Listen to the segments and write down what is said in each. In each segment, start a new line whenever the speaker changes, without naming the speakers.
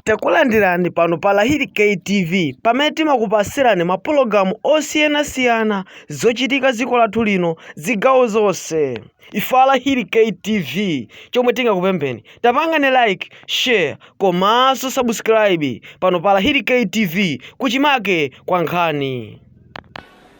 Takulandirani pano pa Lahiri K TV pamene timakupasirani mapologalamu osiyanasiyana zochitika ziko lathu lino zigawo zonse. Ife a Lahiri K TV chomwe tingakupempheni tapangani like, share komanso subscribe pano pa Lahiri K TV kuchimake kwa nkhani.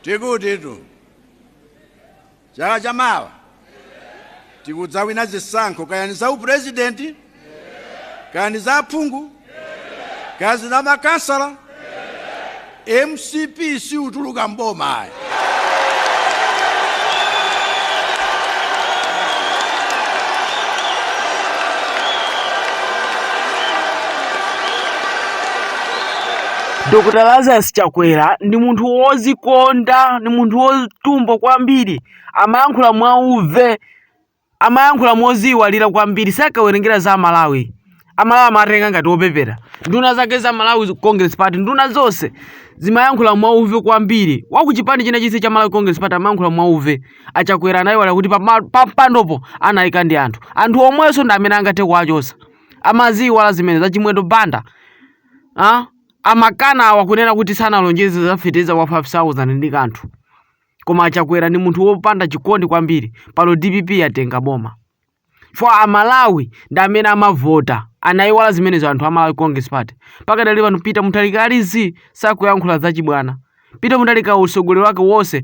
Tikuti Chaka cha mawa tikudzawina zisankho kaya ni za upresident kaya ni za aphungu kaya za makansala mcp siutuluka mboma ayi
Dr. Lazarus Chakwera ndi munthu wozikonda, ndi munthu wo tumbwa kwambiri amayankhula mwauve amayankhula moziyiwalira kwambiri sakawerengera za amalawi amalawi amatenga ngati opepera nduna zake za malawi congress party nduna zonse zimayankhula mwauve kwambiri wakuchipani china chise cha malawi congress party amayankhula mwauve achakwera anayiwala kuti pama- pampandopo anayika ndi anthu anthu omwenso ndi amene angathe kuwachosa amaziyiwala zimenezo a chimwendo banda ah? Amakana awa kunena kuti sanalonjeze za feteleza wa 5000 ndi kathu koma achakwera ndi munthu wopanda chikondi kwambiri pano dpp yatenga boma chifukwa amalawi ndi amene amavota anaiwala zimenezo anthu a malawi congress party pakadali pano peter mutharika ali zii sakuyankhula zachibwana Peter Mutharika utsogoleri wake wonse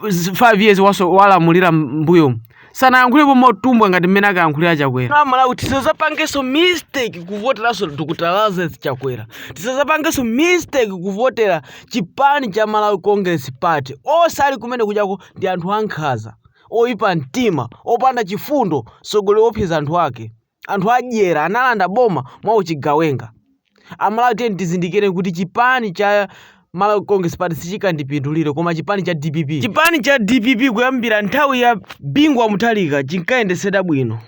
5 years walamulira mbuyo sanayankhulepo motumbwa ngati mmene akayankhulira chakwera amalawi tisazapangenso mistake kuvoteranso dr lazarus chakwera tisazapangenso mistake kuvotera chipani cha malawi congress party onse ali kumene kujako ndi anthu ankhaza oyipa mtima opanda chifundo sogolero opsinja anthu ake anthu adyera analanda boma mwa uchigawenga amalawi tiyeni tizindikire kuti chipani cha malawi congress party sichikandipindulire koma chipani cha dpp chipani cha dpp kuyambira nthawi ya bingu wa mutharika chinkayendesedwa bwino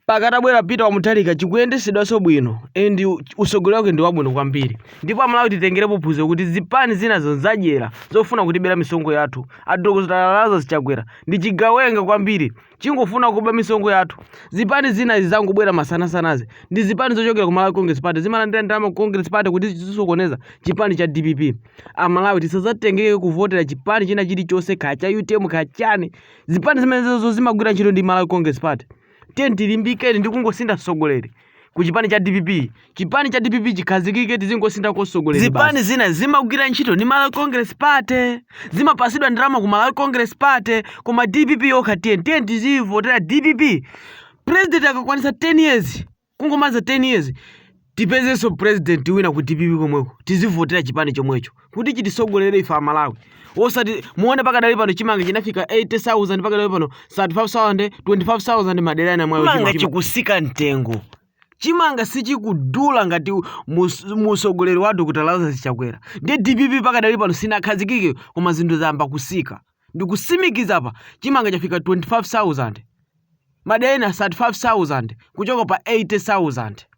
mpaka atabwera peter wa mutharika chikuyendesedwanso bwino and usogoleri wake ndi wabwino kwambiri ndipo amalawi titengerepo phunziro kuti zipani zina ndi zadyera zofuna kutibera misonkho yathu adokotala lazarus chakwera ndi chigawenga kwambiri chingofuna kuba misonkho yathu zipani zina zangobwera masanasanazi ndi zipani zochokera ku malawi congress party zimalandira ndalama ku congress party kuti zisokoneze chipani cha dpp amalawi tisazatengeke kuvotera chipani china chilichonse kaya cha utm kaya chani zipani zimenezo zimagwira ntchito ndi malawi congress party tiyeni tilimbikeni ndi kungosintha utsogoleri ku chipani cha dpp chipani cha dpp chikhazikike tizingosintha kosogoleri zipani zina zimagwira ntchito ndi malawi congress party zimapasidwa ndalama ku malawi congress party koma dpp yokha tiye tiye tizivotera dpp president akakwanisa 10 years kungomaliza 10 years tipezenso president wina ku dpp komweko tizivotera chipani chomwecho kuti chitisogolere ife amalawi osati muone pakadali pano chimanga chinafika 80000 pakadali pano 35000 25000 madera ena mwayo chimanga chikusika mtengo chimanga sichikudula ngati mu- muusogoleri wa dr lazarus chakwera ndi dpp pakadali pano sinakhazikike koma zinthu zayamba kusika ndikusimikiza apa chimanga chafika 25000 madera ena 35000 kuchoka pa 80000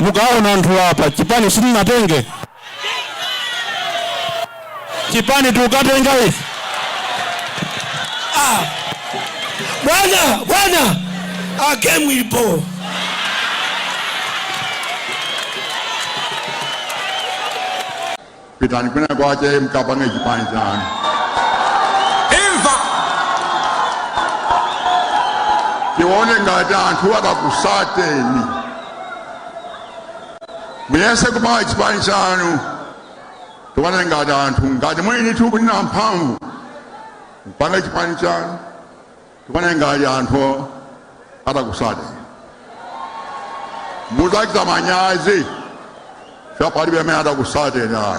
Mukaona anthu apa chipani sitinatenge chipani tukatenga ife ah.
Bwana bwana game ilipo
pitani kwina kwake mkapange chipani
chanu
imva tione ngati anthu akakusateni muyese kupanga chipani chanu tione ngati anthu ngati muyini ti muli ndi mphamvu mpange chipani chanu tione ngati anthu atakusateni mudzachita manyazi cha palibe amene atakusateni ana